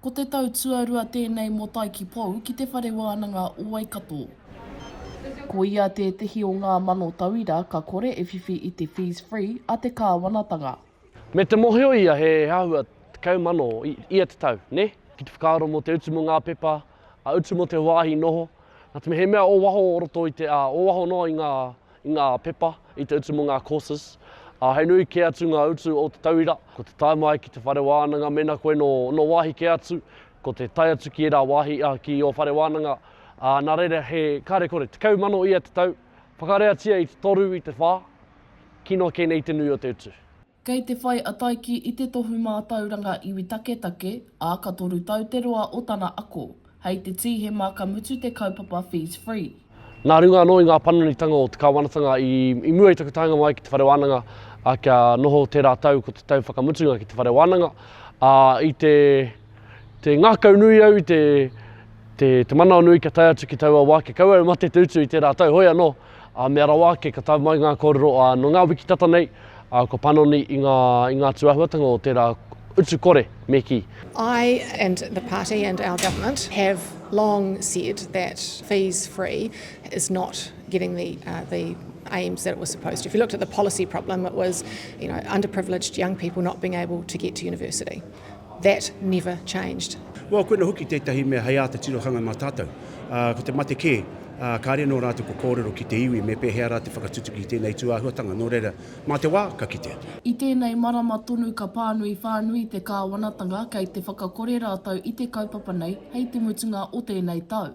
Ko te tau tuarua tēnei mō Taikipou ki te Whare Wānanga o Waikato. Ko ia tētehi o ngā mano tauira ka kore e whiwhi i te Fees Free a te Kāwanatanga. Me te mohio ia he āhua tekau mano ia te tau, nē? Ki te whakaaro mō te utu mō ngā pepa, a utu mō te wāhi noho, nā te mea he mea o waho o roto i te, a, o waho noa i ngā i ngā pepa, i te utu mō ngā courses, ā, hei nui kē atu ngā utu o te tauira, ko te tae mai ki te whare wānanga mēnā koe nō, nō wāhi kē atu, ko te tae atu ki ērā wāhi, ā, ki ō whare wānanga, ā, nā reira he, kāre kore, tekau mano ia te tau, whakareatia i te toru, i te whā, kino kē nei te nui o te utu. Kei te whai a Taiki i te tohu mātauranga iwi taketake, ā, ka toru tau te roa o tana ako. Hei te Tīhema ka mutu te kaupapa Fees Free. Nā runga anō i ngā panonitanga o te Kāwanatanga i mua i taku taenga mai ki te Whare Wānanga kia noho tērā tau ko te tau whakamutunga ki te Whare Wānanga, ā, i te ngākau nui au, i te manawanui kia tae atu ki taua wā kia kau au mate te utu i tērā tau, hoi anō. Ā, mea rawa ake, ka tau mai ngā kōrero, ā, nō ngā wiki tata nei, ā, kua panoni i ngā, i ngā atu āhuatanga o tērā utu kore, me kī. I and the party and our government have long said that fees free is not getting the, uh, the aims that it was supposed to. If you looked at the policy problem, it was, you know, underprivileged young people not being able to get to university. That never changed. Well, koina hoki tētahi mea hei āta tirohanga mā tātou. Ā, ko te mate kē, ā, kāre anō rātou kua kōrero ki te iwi me pēhea rā te whakatutuki i tēnei tūāhuatanga, nō reira, mā te wā, ka kitea. I tēnei marama tonu ka pānui whānui te kāwanatanga kei te whakakore rātou i te kaupapa nei hei te mutunga o tēnei tau.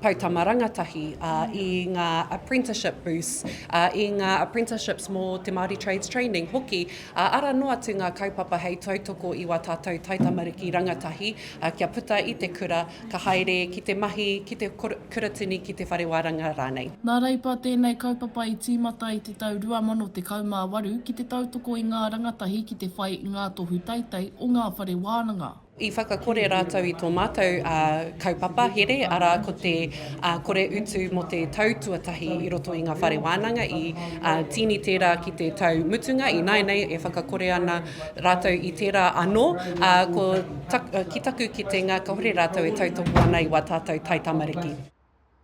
Poutama Rangatahi, ā, i ngā apprenticeship boosts, ā, i ngā apprenticeships mō te Māori Trades Training hoki, ā, arā noa atu ngā kaupapa hei tautoko i wā tātou taitamariki rangatahi, ā, kia puta i te kura, ka haere ki te mahi, ki te kuratini, ki te whare wānanga rānei. Nā Reipa tēnei kaupapa i tīmata i te tau 2018 ki te tautoko i ngā rangatahi ki te whai i ngā tohu teitei o ngā whare wānanga. I whakakore rātou i tō mātou kaupapa here, arā, ko te kore utu mō te tau tuatahi i roto i ngā whare wānanga. I tīni tērā ki te tau mutunga, ināianei e whakakore ana rātou i tērā anō. Ki taku kitenga, kāore rātou e tautoko ana i wā tātou taitamariki.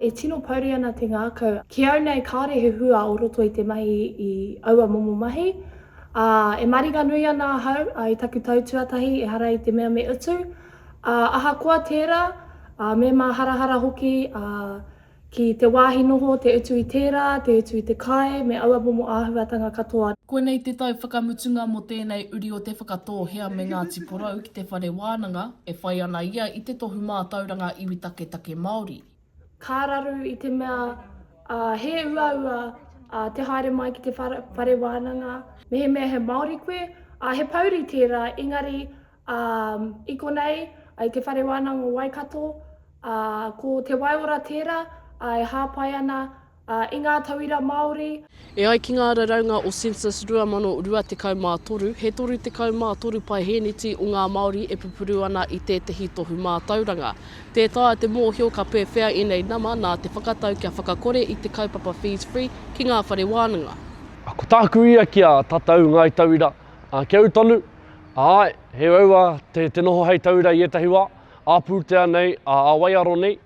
E tino pouri ana te ngākau. Ki au nei kāore he hua o roto i te mahi i aua momo mahi, ā, e maringanui ana ahau i taku tau tuatahi ehara i te mea me utu, ā, ahakoa tērā, ā, me māharahara hoki, ā, ki te wāhi noho, te utu i tērā, te utu i te kai, me aua momo āhuatanga katoa. Koinei te tau whakamutunga mō tēnei uri o Te Whakatōhea me Ngāti Porou ki te whare wānanga, E whai ana ia i te Tohu Mātauranga Iwi Taketake Māori. Ka raru i te mea he uaua te haere mai ki te whare wānanga. Mehemea he Māori koe, he pouri tērā, engari i konei i te Whare Wānanga o Waikato, ko te waiora tērā e hāpai ana Ā, i ngā tauira Māori. E ai ki ngā raraunga o Census 2023, he 33 paehēneti o ngā Māori e pupuru ana i tētehi tohu mātauranga. Tē taea te mōhio ka pēwhea ēnei nama nā te whakatau kia whakakore i te kaupapa Fees Free ki ngā whare wānanga. Ko tāku ia ki a tatau ngāi tauira, a kia ū tonu, āe, he raua te noho hei tauira i ētahi wā, ā pūtea nei, ā waiaro nei.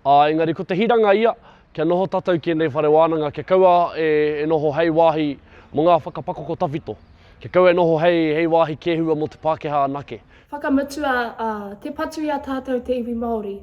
Ā, engari ko te hiranga ia, kia noho tātou ki ēnei whare wānanga, kia kaua e noho hei wāhi mō ngā whakapakoko tawhito, kia kaua e noho hei wāhi kēhua mō te Pākehā anake. Whakamutua, ā, tē patu i a tātou te iwi Māori.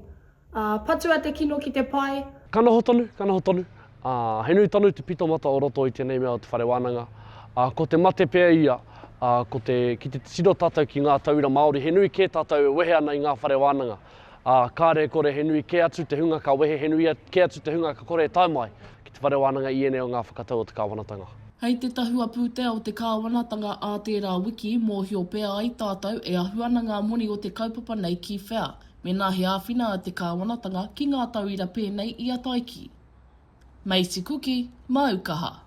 Ā, patua te kino ki te pae. Ka noho tonu, ka noho tonu. Ā, he nui tonu te pitomata o roto i tēnei mea o te whare wānanga. Ā, ko te mate pea ia, ā, ko te, ki te tiro tātou ki ngā tauira Māori, he nui kē tātou e wehe ana i ngā whare wānanga. Ā, kāre e kore he nui kē atu te hunga ka wehe, he nui kē atu te hunga ka kore e tae mai ki te whare wānanga i ēnei o ngā whakatau o te kāwanatanga. Hei te tahua pūtea o te kāwanatanga ā tērā wiki, mōhio pea ai tātou e ahu ana ngā moni o te kaupapa nei ki whea, mēnā he āwhina a te kāwanatanga ki ngā tauira pēnei i a Taiki. Meiti kuki, mau kaha.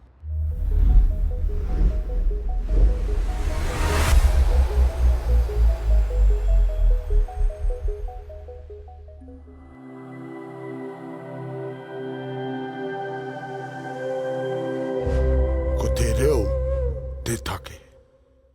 Ko te reo te take.